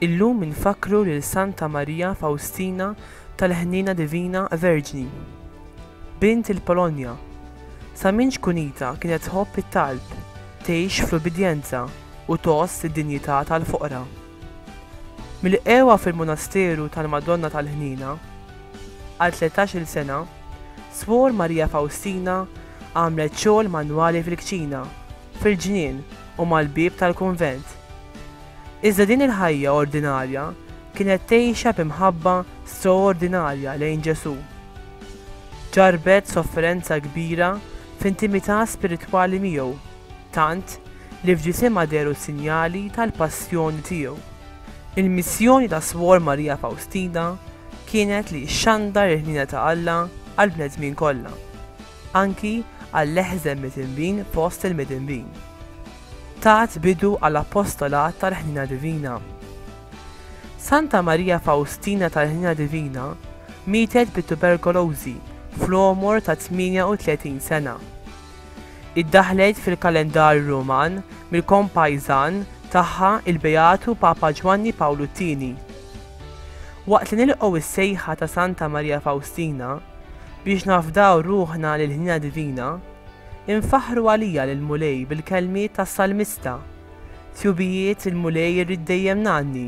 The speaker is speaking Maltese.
Illum infakkru lil Santa Marija Fawstina tal-Ħniena Divina Verġni, bint il-Polonja. Sa minn ċkunitha kienet tħobb it-talb, tgħix fl-ubbidjenza u tgħożż id-dinjità tal-foqra. Milqegħa fil-Monasteru tal-Madonna tal-Ħniena għal tlettax-il sena, Swor Maria Fawstina għamlet xogħol manwali fil-kċina, fil-ġnien u mal-bieb tal-kunvent. Iżda din il-ħajja ordinarja kienet tgħixha bi mħabba stroordinarja lejn Ġesù. Ġarrbet sofferenza kbira f'intimità spiritwali miegħu. tant li f'ġisimha dehru s-sinjali tal-passjoni tiegħu. Il-missjoni ta' Swor Marija Fawstina kienet li xxandar il-ħniena ta' Alla għall-bnedmin kollha, anki għall-eħżen midinbin fost il-midinbin. Tat bidu għal appostolat tal-ħniena divina. Santa Marija Fawstina tal-Ħniena Divina mietet bit-tuberkolożi fl-għomor ta' 38 sena. Iddaħħlet fil-kalendarju Ruman mill-kompajżan tagħha il-Beatu Papa Ġwanni Pawlu t-Tieni. Waqt li nilqgħu s-sejħa ta' Santa Marija Fawstina biex nafdaw ruħna lill-ħniena divina, infaħħru għalija lill-Mulej bil-kelmiet tas-Salmista, Tjubijiet il-Mulej irrid dejjem ngħanni,